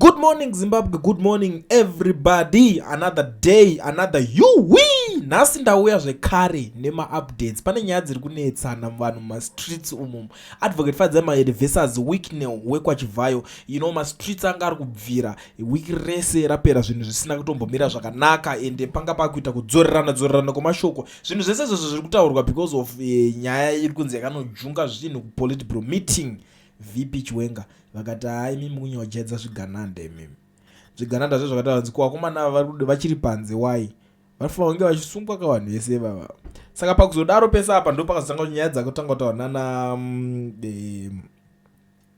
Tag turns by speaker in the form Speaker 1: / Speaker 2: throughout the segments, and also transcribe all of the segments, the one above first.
Speaker 1: Good morning Zimbabwe, good morning everybody. Another day, another yuwi. Nhasi ndauya zvekare nemaupdates. Pane nyaya dziri kunetsana vanhu mumastreets umu. Advocate Fadzemaede versus Wicknell wekwaChivhayo. You know mastreets anga ari kubvira wiki rese rapera zvinhu zvisina kutombomira zvakanaka ende panga pakuita kudzorerana dzorerana kwemashoko. Zvinhu zvese izvozvo zviri kutaurwa because of eh, nyaya iri kunzi yakanojunga zvinhu kupolitbro meeting. VP Chiwenga vakati haa imimi kunyojedza zvigananda imimi. Zvigananda zve zvakati vanzi ko vakomana ava vari vachiri panze why? Vanofanira kunge vachisungwa ka vanhu vese ivava. Saka pakuzodaro pese apa ndo pakazotanga nyaya dzakutanga kutaura nana um, e,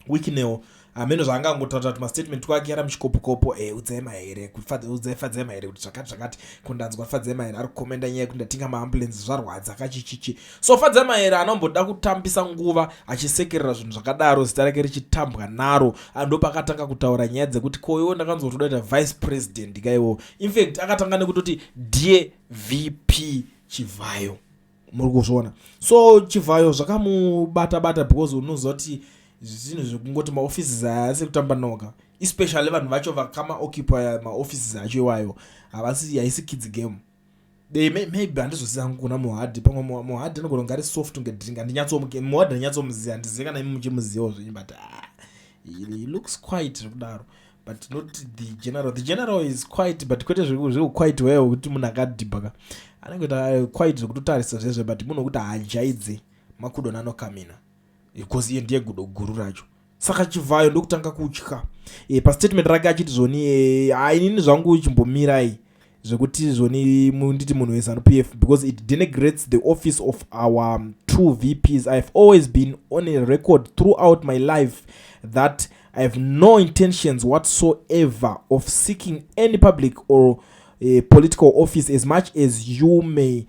Speaker 1: Wicknell hameno zvaangangotaura kuti mastatement kwake ara muchikopokopo e eh, udzema here udzai fadzema here kuti zvakati zvakati kundanzwa fadzema here ari kukomenda nyaya yekuti ndatinga maambulensi zvarwadza kachichichi So Fadzamaere anomboda kutambisa nguva achisekerera zvinhu zvakadaro zita rake richitambwa naro andopakatanga kutaura nyaya dzekuti koiwo ndakanzwa kuti udaita vice president kaiwo infact akatanga nekutoti dear vp chivhayo muri kuzviona so chivhayo zvakamubata bata because unozoti zvinhu zvekungoti maoffices aya asi kutamba noga especially vanhu vacho vakama occupy maoffices acho iwayo havasi haisi kids game They may, maybe handizoziva hangu kuna mohadhi pamwe mohadhi anogona kunge ari soft kunge drink handinyatsomuke mohadhi handinyatsomuziva handizive kana imi muchimuzivawo zvenyu but ah, he looks quite zvekudaro but not the general the general is quite but kwete zvekuquite weyo wekuti munhu akadhibhaka anenge kuita eh, quite zvekutotarisa zvezve but munhu wekuti haajaidze makudona anokamina because iye ndiye gudo guru racho saka chivhayo ndokutanga kutya e, pastatement rake achiti zvoni e, eh, ainini zvangu chimbomirai zvekuti zvoni nditi munhu wezanu p f because it denigrates the office of our um, two vps ihave always been on a record throughout my life that i have no intentions whatsoever of seeking any public or uh, political office as much as you may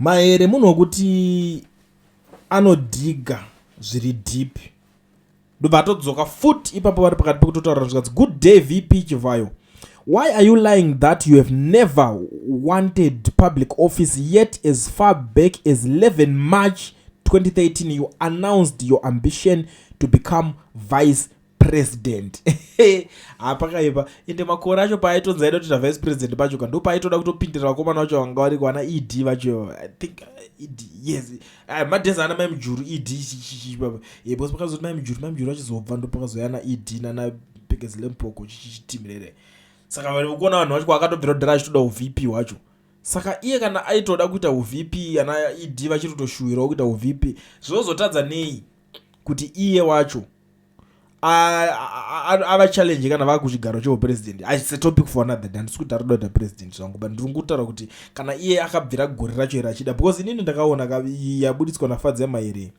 Speaker 1: Mahere munhu wekuti anodhiga zviri deep ndobva atodzoka futi ipapo vari pakati pekutotaura zvikanzi good day vp chivhayo why are you lying that you have never wanted public office yet as far back as 11 march 2013 you announced your ambition to become vice president hapakaipa ende makore acho paaitonzi aida kutoita vice president pacho ka ndo paaitoda kutopindira vakomana vacho vanga variko ana ed vacho i think uh, ed yes ah, madhezi ana mai mujuru ed bcause eh, pakazoti mai mujuru mai mujuru vachizobva ndo pakazouya ana ed nana pekezi lempoko chichitimirere saka vekuona vanhu vacho kwakatobvira kudhara achitoda uvp hwacho saka iye kana aitoda kuita uvp ana ed vachiri kutoshuwirawo kuita uvp zvinozotadza nei kuti iye wacho ava challenge kana vava kuchigaro chehupresident its a topic for another day handisi kuti ari kuda president zvangu but ndiri kutaura kuti kana iye akabvira gore racho here achida because inini ndakaona yabuditswa nafadzi yamairi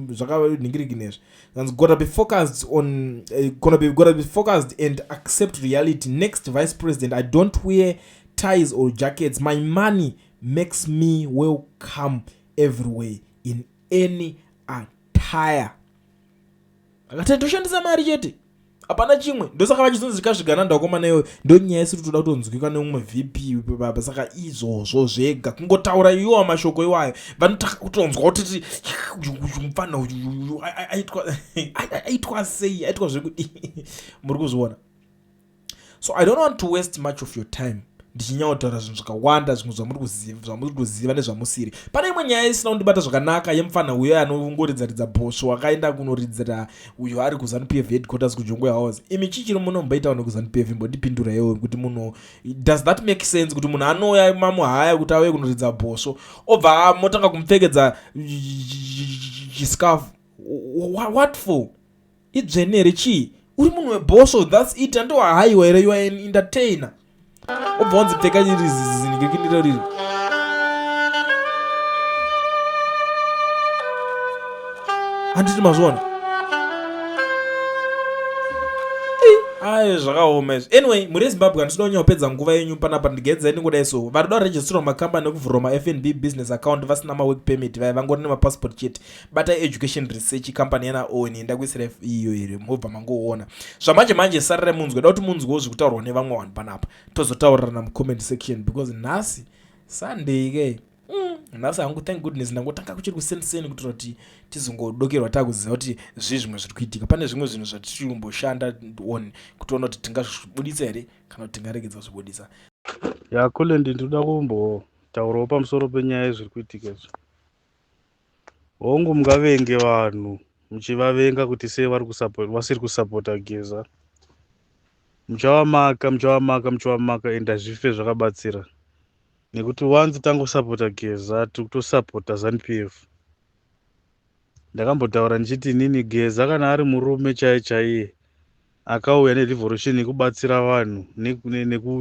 Speaker 1: zvakatohingiriginezvi kanzi gota be focused on eh, gona be gota be focused and accept reality next vice president i don't wear ties or jackets my money makes me welcome everywhere in any attire akati ndoshandisa mari chete hapana chimwe ndosaka vachizonzi zvikazvigana ndakomana iyoyo ndonyaya isiri toda kutonzwika neumwe vp baba saka izvozvo zvega kungotaura iyowa mashoko iwayo vanotaka kutonzwa kutiti mupfanha aitwa sei aitwa zvekudii muri kuzviona so i don't want to waste much of your time ndichinyaotaura zvinhu zvakawanda zvimwe zvamuri kuziva nezvamusiri pane imwe nyaya isina kundibata zvakanaka yemufana uyo anongoridzaridza bhosvo akaenda kunoridzira uyo ari kuzanu p f headquarters kujongo house imi chii chiri muno mbaita vanhu kuzanu p f imbondipindura iyoyo kuti munhu does that make sense kuti munhu anouya mamuhaya kuti auye kunoridza bhosvo obva motanga kumupfekedza chiscafu what for idzvene here chii uri munhu webhosvo thats it andohaiwa here yoa an entertainer obva wanzi pfeka iri zizizinikirikindiro riri handiti mazviona aye zvakaoma izvi anyway muri yezimbabwe handisida kunyanya kupedza nguva yenyu panapa ndigedza ini kudai so vari da registrira macompany ekuvhurwa mafnb business account vasina mawork permit vaya vangori nemapassport chete batai education research company yana owen ndakuisira iyo here mobva mangoona zvamanje manje sararai munzwe da kuti munzwewo zviri kutaurwa nevamwe vanhu panapa tozotaurirana mucomment section because nhasi sunday ke mm, nhasi hangu thank goodness ndangotanga kuchiri kusenseni kuitira kuti tizongodokerwa takuziva kuti zvii zvimwe zviri kuitika pane zvimwe zvinhu zvatiri kumboshanda on kutiona kuti tingazvibudisa here kana kuti tingaregedza kuzvibudisa yakule
Speaker 2: ndindoda kumbotaurawo pamusoro penyaya yezviri kuitika izvi hongu mungavenge vanhu muchivavenga kuti sei vari kusupport vasiri kusupporta geza muchavamaka muchavamaka muchavamaka and hazvife zvakabatsira nekuti once tangosupporta geza tiri kutosupporta zanupf ndakambotaura ndichiti inini geza kana ari murume chaiye chaiye akauya nerevolution yekubatsira vanhu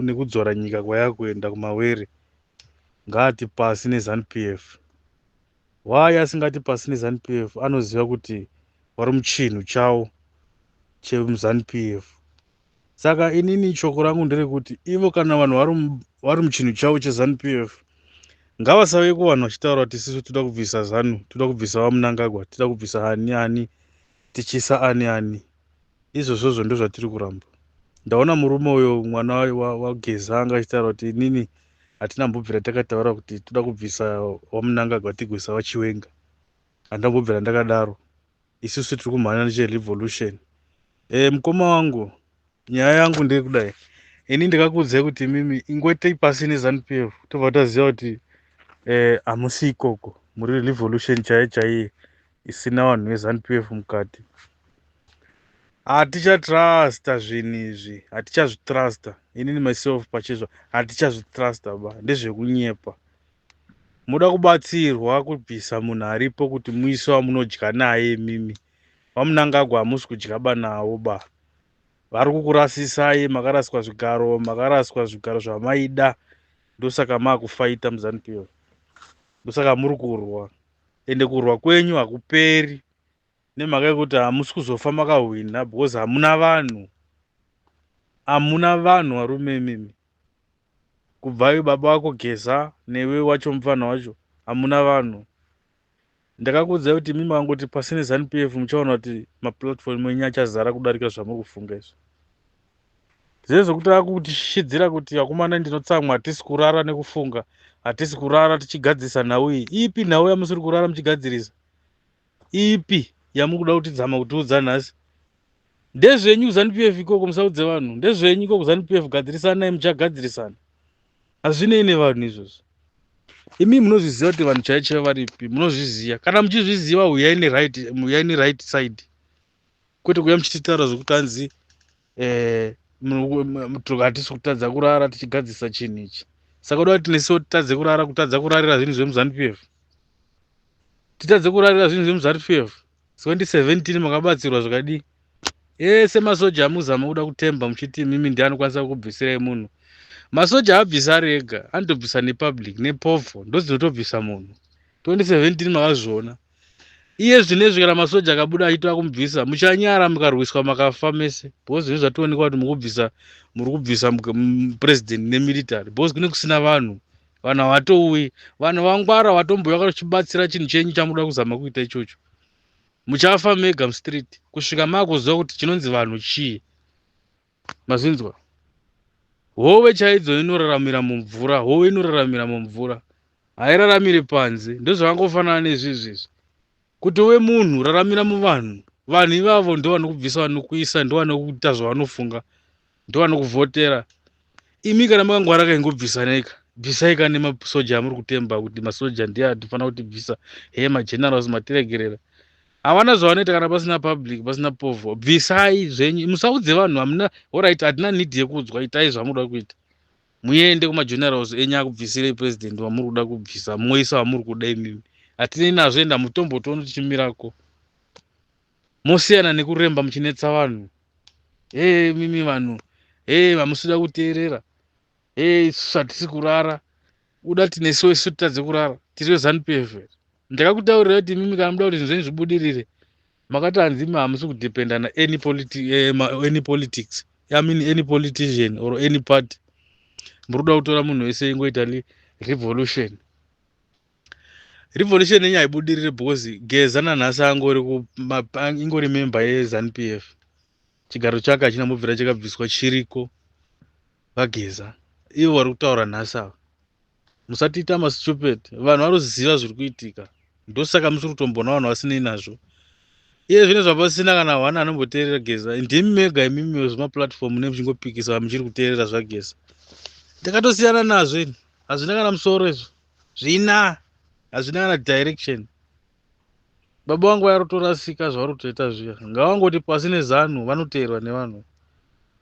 Speaker 2: nekudzora nyika kwayakuenda kumawere ngaati pasi ne zanu PF why asingati pasi ne zanu PF anoziva kuti vari muchinhu chawo chemuzanu PF saka inini shoko rangu nderekuti ivo kana vanhu vari muchinhu chavo chezanu p f ngavasave kuvanhu vachitaura kuti isisu toda kubvisa zanu toda kubvisa vamunangagwa toda kubvisa ani ani tichisa ani ani izvozvozvo ndozvatiri kuramba ndaona murume uyo mwana wageza anga achitaura kuti inini hatina mbobvira takataura kuti toda kubvisa wamunangagwa tigoisa vachiwenga handambobvira ndakadaro isusu tiri kumhanya necherevolution e, mukoma wangu nyaya yangu ndeyekudai ini ndikakuudzai kuti mimi ingoitei pasi nezanup f tobva taziva kuti eh, hamusi e, ikoko muri revolution chaiye chaiye isina vanhu veZanu PF mukati. Hatichatrusta zvinhu izvi, hatichazvitrusta. Inini myself pachezvo hatichazvitrusta ba, ndezvekunyepa. Moda kubatsirwa kubvisa munhu aripo kuti muise wamunodya naye imimi. VaMunangagwa hamusi kudya ba nawo ba. Vari kukurasisai, makaraswa zvigaro, makaraswa zvigaro zvamaida. Ndosaka makufaita muZanu PF. Ndosaka muri kurwa. ende kurwa kwenyu hakuperi nemhaka yekuti hamusi kuzofa makahwina because hamuna vanhu hamuna vanhu varume imimi kubvayo baba wako geza newe wacho mupfana wacho hamuna vanhu ndakakuudzai kuti imimi vangoti pasi nezanu p f muchaona kuti maplatform enyu achazara kudarika zvamuri kufunga izvi Zese kuti akutishidzira kuti akomana ndinotsamwa hatisi kurara nekufunga hatisi kurara tichigadzirisa nhau iyi ipi nhau yamusiri kurara muchigadzirisa ipi yamukuda kutidzama kutiudza nhasi ndezvenyu kuzanupf ikoko musaudze vanhu ndezvenyu ikoko kuzanupf gadzirisanai muchagadzirisana hazvinei nevanhu izvozvo imi munozviziva kuti vanhu chaichaiva varipi munozviziva kana muchizviziva huyai neright side kwete kuya muchititaura zvekuti hanzi eh, hatisi kutadza kurara tichigadzisa chinhu ichi saka uda kuti nesiwo titadze kurara kutadza kurarira zvinhu zvemuzanu p f titadze kurarira zvinhu zvemuzanu p f 2017 makabatsirwa zvakadii ese masoja amuzama kuda kutemba muchiti mimi ndi anokwanisa kukubvisirai munhu masoja abvisa ari ega anotobvisa nepublic nepofo ndozinotobvisa munhu 2017 makazviona iye zvinezvi kana masoja akabuda achitova kumubvisa muchanyara mukarwiswa makafa mese because zvinhu zvationekwa kuti mukubvisa muri kubvisa president nemilitary because kune kusina vanhu vanhu havatouyi vanhu vangwara vatombouya vakachibatsira chinhu chenyu chamuda kuzama kuita ichocho muchafa mega mustreet kusvika maakuziva kuti chinonzi vanhu chii mazvinzwa hove chaidzo inoraramira mumvura hove inoraramira mumvura hairaramiri panze ndozvakangofanana nezvizvi izvi kuti uve munhu raramira muvanhu vanhu ivavo ndovanokubvisa vanokuisa ndovanokuita zvavanofunga ndovanokuvhotera imi kana makangwara kaingobvisaneika bvisaika nemasoja amuri kutemba kuti masoja ndiye atifanira kutibvisa hee magenerals matiregerera Havana zvavanoita kana pasina public pasina povho bvisai zvenyu musaudze vanhu hamuna orit hatina need yekuudzwa itai zvamuda kuita muende kumagenerals enyu akubvisirei president vamuri kuda kubvisa moisa vamuri kuda imimi hatinei nazvo enda mutombo tono tichimirako mosiyana nekuremba muchinetsa vanhu hee mimi vanhu hee vamusida kuteerera hee isusu hatisi kurara uda kuti nesuwo isu titadze kurara tiri vezanup f ndakakutaurira kuti imimi kana muda kuti zvinhu zvenyu zvibudirire makati hanzi imi hamusi kudependa naany politi, eh, ma- any politics i mean any politician or any party muri kuda kutora munhu wese ingoita li- revolution revolution yenyu haibudirire because geza nanhasi angori ku- ma- pa- ingori member yezanup f chigaro chake hachina mubvira chakabviswa chiriko VaGeza ivo vari kutaura nhasi ava musatiita mastupid vanhu varuziva zviri kuitika ndosaka musiri kutombona vanhu vasinei nazvo iye zvine zvapasina kana hwana anomboteerera geza ndimi mega imimi wezvemaplatform ne muchingopikisa muchiri kuteerera zvageza ndakatosiyana nazvo ini hazvina kana musoro izvo zvina hazvina kana direction baba vangu vayari kutorasika zvavari kutoita zviya ngavangoti pasi nezanu vanoteerwa nevanhu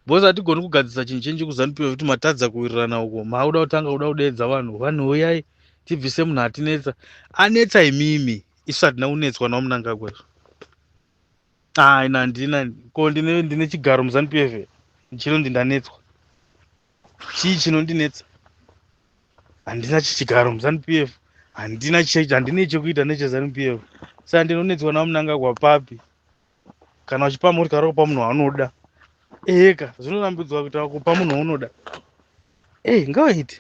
Speaker 2: bcause hatigoni kugadzisa chinhu chenji kuzanu piwa kuti matadza kuwirirana uko mauda kutanga kuda kudeedza vanhu vanhu huyai tibvise munhu atinetsa anetsa imimi isu hatina kunetswa nawo munangagwa izvo aina ah, ndina ko ndine, ndine chigaro muzanu piwa chinonzi ndanetswa chii chinondinetsa handina chichigaro muzanup f handina handine chekuita nechezanup f saka ndinonetswa navo munangagwa papi kana uchipa murikaro kupa munhu waanoda eheka zvinorambidzwa kuita kupa munhu waunoda ei ngawaiti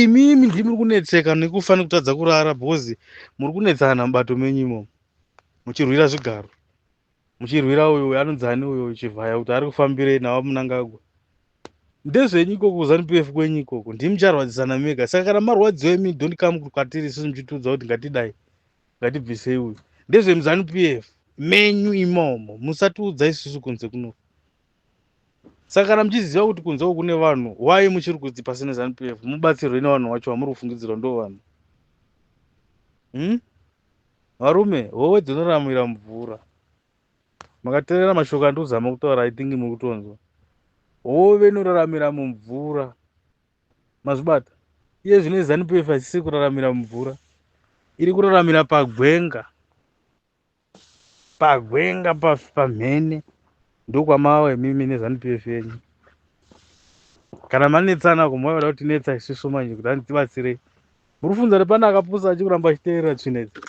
Speaker 2: imimi ndii muri kunetseka nekufa nekutadza kurara because muri kunetsana mubato menyu imomo muchirwira zvigaro muchirwira uyo uyo anonzi ani uyo chivhaya kuti ari kufambirei navo munangagwa ndezvenyu ikoko kuzanu pf kwenyu ikoko ndii mucharwadzisana mega saka kana marwadziwa imi don't come kwatiri isusu muchitiudza kuti ngatidai ngatibvisei uyu ndezvemuzanu pf menyu imomo musatiudza isusu kunze kuno Saka kana muchiziva kuti kunze uku kune vanhu, why muchiri kuti pasina Zanu PF mubatsirwe nevanhu wacho vamuri kufungidzirwa ndo vanhu? Hmm? Varume, howe dzinoramwira mvura. Makaterera mashoko andiri kuzama kutaura, I think muri kutonzwa. Hove inoraramira mumvura. Mazvibata? Iye zvino Zanu PF haisiri kuraramira mumvura. Iri kuraramira pagwenga. Pagwenga pafi pamhene ndokwamava imimi nezanu PF yenyu. Kana manetsana ko maivoda kuti netsa isusu manje kuti antibatsirei. Muri funza kuti pane akapusa achikuramba achiteerera tsvina idzi.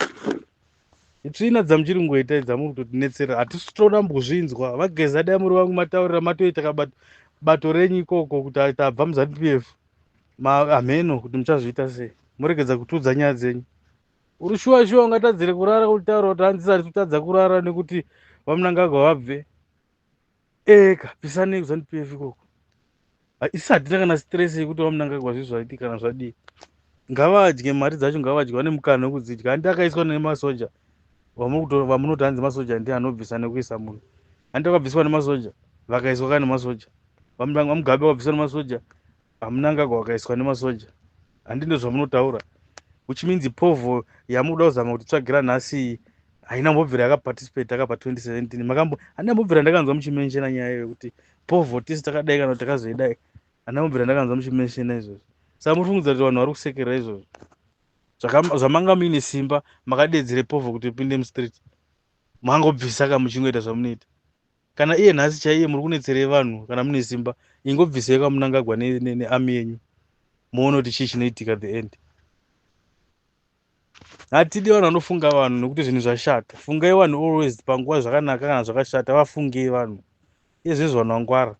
Speaker 2: Itsvina dzamuchiri ngoita idzi amuri kuti netsera hatisi tona mbuzvinzwa vageza dai muri vangu mataurira matoita kabato bato renyu ikoko kuti tabva muzanu PF. Maameno kuti muchazviita sei. Muregedza kutudza nyaya dzenyu. Uri shuwa shuwa ungatadzire kurara utaura kuti hanzi sari kutadza kurara nekuti vamunangagwa vabve eka pisanei kuzandipefi ikoko isi hatina kana stress yekuti vamunangagwa zvi zvaiti kana zvadii ngavadye mari dzacho ngavadye vane mukana wekudzidya handi akaiswa nemasoja vamunoti hanzi masoja ndi anobvisa nekuisa munhu handi akabviswa nemasoja vakaiswa ka nemasoja vamugabe wabviswa nemasoja Mnangagwa wakaiswa nemasoja handi ndozvamunotaura which means povo yamuda kuzama kuti tsvagira nhasi iyi haina mbobvira yakaparticipate akapa 2017 makambo handina mbobvira ndakanzwa muchimenshena nyaya iyo yekuti povo tisi takadai kana kuti takazoidai handina mbobvira ndakanzwa muchimenshena izvozvo saka muri fungudza kuti vanhu vari kusekerera izvozvo zvamanga muine simba makadeedzere povo kuti upinde mustreet mangobvisa ka muchingoita zvamunoita kana iye nhasi chaiye muri kunetserei vanhu kana mune simba ingobvisei kwamunangagwa neami yenyu muone kuti chii chinoitika the end hatidi vanhu vanofunga vanhu nokuti zvinhu zvashata fungai vanhu always panguva zvakanaka kana zvakashata vafungei vanhu ezvezvo vanhu vangwara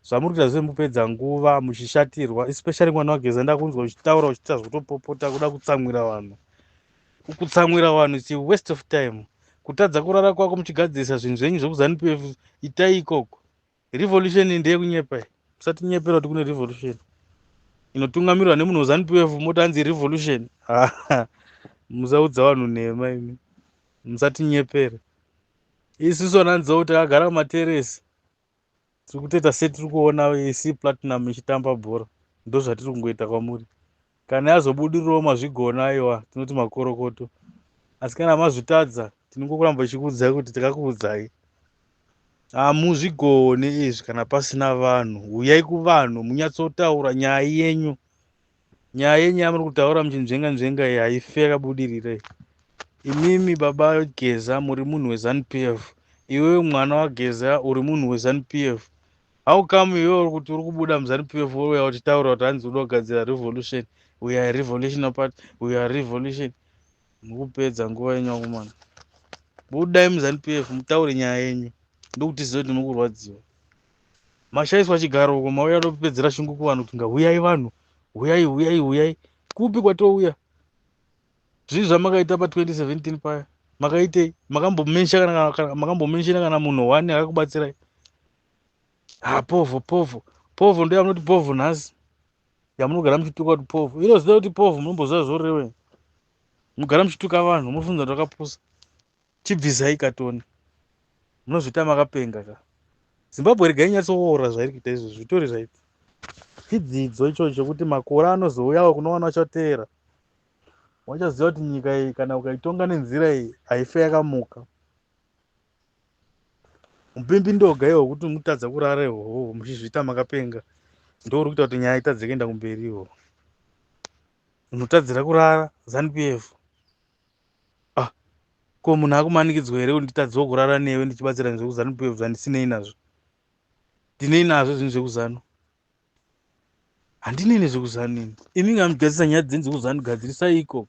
Speaker 2: zvamuri kuita zvemupedza nguva muchishatirwa especially mwana wageza ndakunzwa uchitaura uchiita zvekutopopota kuda kutsamwira vanhu kutsamwira vanhu its waste of time kutadza kurara kwako muchigadzirisa zvinhu zvenyu zvekuzanup itai ikoko revolution ndeyekunyepa musatinyepera kuti kune revolution inotungamirwa nemunhu wezanup moti anzi revolution musaudza vanhu nhema imi musatinyepera isusu ananzou takagara mumateresi tiri kutoita setiri kuona ac platinum ichitamba bhora ndozvatiri kungoita kwamuri kana yazobudirirawo mazvigona aiwa tinoti makorokoto asi kana mazvitadza tinongokuramba tichikuudzai kuti takakuudzai hamuzvigone izvi kana pasina vanhu huyai kuvanhu munyatsotaura nyaya yenyu nyaya yenyu yamuri kutaura muchinzvenga nzvenga iyi haife yakabudirira iyi imimi baba geza muri munhu wezanu p f iwewe mwana wageza uri munhu wezanu p f how come iwewe uri kuti uri kubuda muzanu p f wouya uchitaura kuti hanzi uda kugadzira revolution we are revolution apart we are revolution mukupedza nguva yenyu akomana budai muzanu p f mutaure nyaya yenyu ndokuti zive kuti mukurwadziwa mashaiswa chigaro uko mauya topedzera shungu kuvanhu kuti ngahuyai vanhu huyai huyai huyai kupi kwatouya zvii zvamakaita pa 2017 paya makaitei makambomenshina kana munhu one akakubatsirai ha povho povho povho ndo yamunoti povho nhasi yamunogara muchituka kuti povho iro zita kuti povho munomboziva zvorewe mugara muchituka vanhu munofunza kuti vakapusa Chibvisai ka Tony munozviita makapenga ka. Zimbabwe regai inyatsoora zvairi kuita izvozvo zvitori zvaipa chidzidzo ichocho chekuti makore anozouyawo kune vana vachateera wachaziva kuti nyika iyi kana ukaitonga nenzira iyi haife yakamuka mupimbi ndoga iwo kuti mutadza kurara ihoho muchizviita makapenga ndouri kuita kuti nyaya itadze kuenda kumberi ihoho unotadzira kurara zanupf Ah, ko munhu akumanikidzwa here kunditadzwa kurara newe ndichibatsira nezvekuzanu pf zvandisinei nazvo? Ndinei nazvo zvinhu zvekuzanu? Handinei nezvekuzanu ini. Imi ngamigadzisa nyaya dzenzi kuzanu gadzirisai ikoko.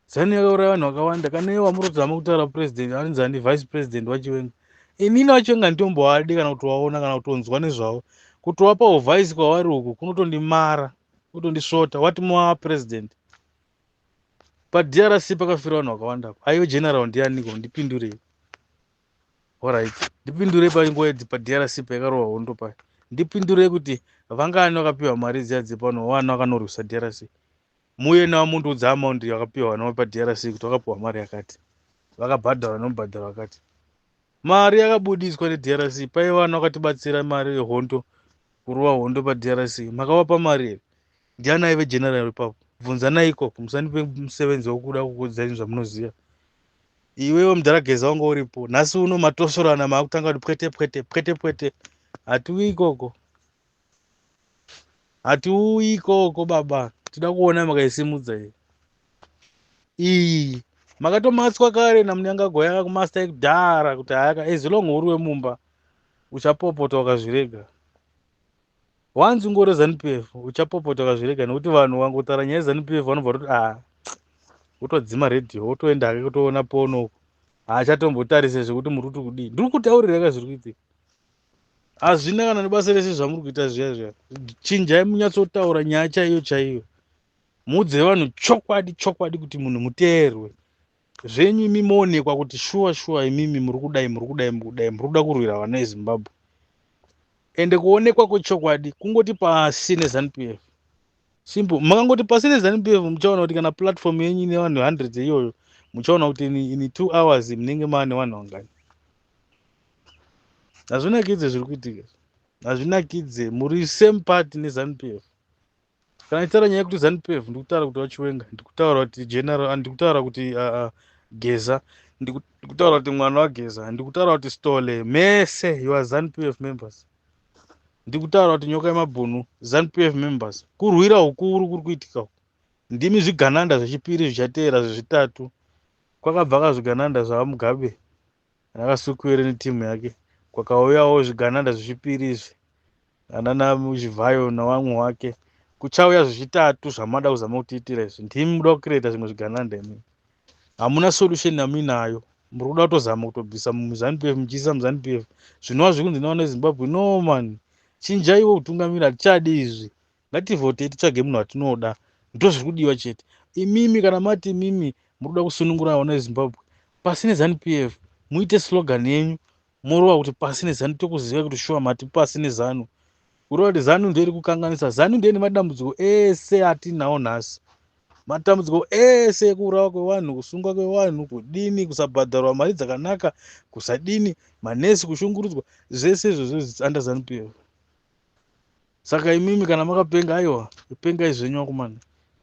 Speaker 2: Zanu yakauraya vanhu vakawanda kana iye wamuri kuzama kutaura president anonzi ani vice president wachiwenga. Inini wachiwenga nditomboadi kana kutovaona kana kutonzwa nezvavo. Kutovapa uvice kwavari uku kunotondimara, kutondisvota. What more president? padrc pakafira vanhu vakawanda aive general ndianiko ndipindurei orit ndipindurei panguva idzi padrc paikarohwa hondo paya ndipindurei kuti vangani vakapiwa mari dziya dzepano vana vakanorwisa drc muye navo mundiudza amaundi yakapiwa vana vepadrc kuti vakapiwa mari yakati vakabhadhara nomubhadhara vakati mari yakabudiswa nedrc paiva vana vakatibatsira mari yehondo kurova hondo padrc makavapa mari here ndiani aive general ipapo bvunzanai ikoko musandipe musevenzi wekuda kukuudzai zvamunoziva iwewe mudhara geza wanga uripo nhasi uno matosorana maakutanga kuti pwete pwete pwete pwete hatiuyi ikoko hatiuyi ikoko baba tida kuona makaisimudza iyi iyi makatomatswa kare namunyangago yanga kumasta ekudhara kuti hayaka ezilong uri wemumba uchapopota wakazvirega wanzi ungori zanup f uchapopotoka zvirega nekuti vanhu vangotara nyaya yezanup f vanobva toti a wotodzima radio wotoenda hake kutoona pono uko haachatombotarise zvekuti muri kuti kudii ndiri kutaurira ka zviri kuitika hazvina kana nebasa rese zvamuri kuita zviya zviya chinjai munyatsotaura nyaya chaiyo chaiyo muudze vanhu chokwadi chokwadi kuti munhu muteerwe zvenyu imi moonekwa kuti shuwa shuwa imimi muri kudai muri kudai muri kudai muri kuda kurwira vana vezimbabwe ende kuonekwa kwechokwadi kungoti pasi nezanup f simple makangoti pasi nezanup f muchaona kuti kana platform yenyu ine vanhu hundreds iyoyo muchaona kuti in two hours munenge maa nevanhu vangani hazvinakidze zviri kuitika hazvinakidze muri same part nezanup f kana itaura nyaya yekuti zanupf ndikutaura kuti vachiwenga ndikutaura kuti general ah, ndikutaura kuti ah, ah, geza ndikutaura kuti mwana wageza ndikutaura kuti stole mese youre zanupf members ndikutaura kuti nyoka yemabhunu zanupf members kurwira ukuru kuri kuitika uku ndimi zvigananda zvechipiri zvichateera zvezvitatu kwakabva ka zvigananda zvavamugabe Nakasukuwere neteam yake kwakauyawo zvigananda zvechipiri izvi anana Chivhayo nawamwe wake kuchauya zvechitatu zvamada kuzama kutiitira izvi ndimi muda kucreata zvimwe zvigananda imi hamuna solution yamuinayo muri kuda kutozama kutobvisa muzanupf muchiisa muzanupf zvinova zvekunzi nawana zimbabwe no man chinjaiwo kutungamira hatichadi izvi Ngativhotei titsvage munhu watinoda ndozviri kudiwa chete. Imimi kana mati imimi murikuda kusunungura vana veZimbabwe pasi neZanu-PF muite slogan yenyu morova kuti pasi neZanu tokuziva kuti shuwa mati pasi neZanu. Kureva kuti Zanu ndiyo iri kukanganisa. Zanu ndiyo ine madambudziko ese atinawo nhasi. Matambudziko ese ekuurawa kwevanhu, kusungwa kwevanhu, kudini, kusabhadharwa mari dzakanaka, kusadini, manesi kushungurudzwa, zvese izvozvo it's under Zanu-PF. Saka imimi kana makapenga aiwa pengai zvenyu akomana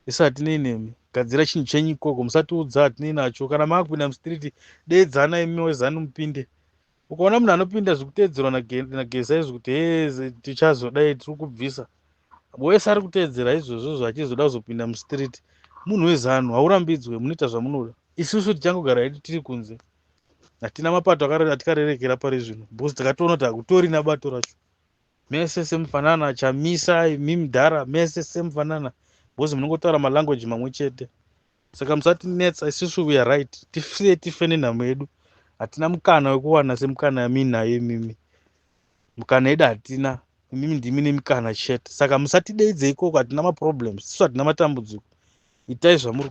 Speaker 2: isu hatinei nemi gadzira chinhu chenyu ikoko musatiudza hatinei nacho kana maakupinda mustreet deedzana imi wezanu mupinde ukaona munhu anopinda zvikuteedzerwa nageza izvi kuti he tichazodai tiri kubvisa wese ari kuteedzera izvozvozvo achizoda kuzopinda mustreet munhu wezanu haurambidzwe munoita zvamunoda isusu tichangogara hedu tiri kunze hatina mapato atikarerekera pari zvino because takatoona kuti hakutorina bato racho mese semufanana chamisa imi mudhara mese semufanana because munongotaura malanguage mamwe chete saka musatinetsa isusu we are right tifie tife nenhamo yedu hatina mukana wekuwana semukana yamiinayo imimi mukana yedu hatina imimi ndimi nemikana chete saka musatideidze ikoko hatina maproblems isu hatina matambudziko itai zvamuri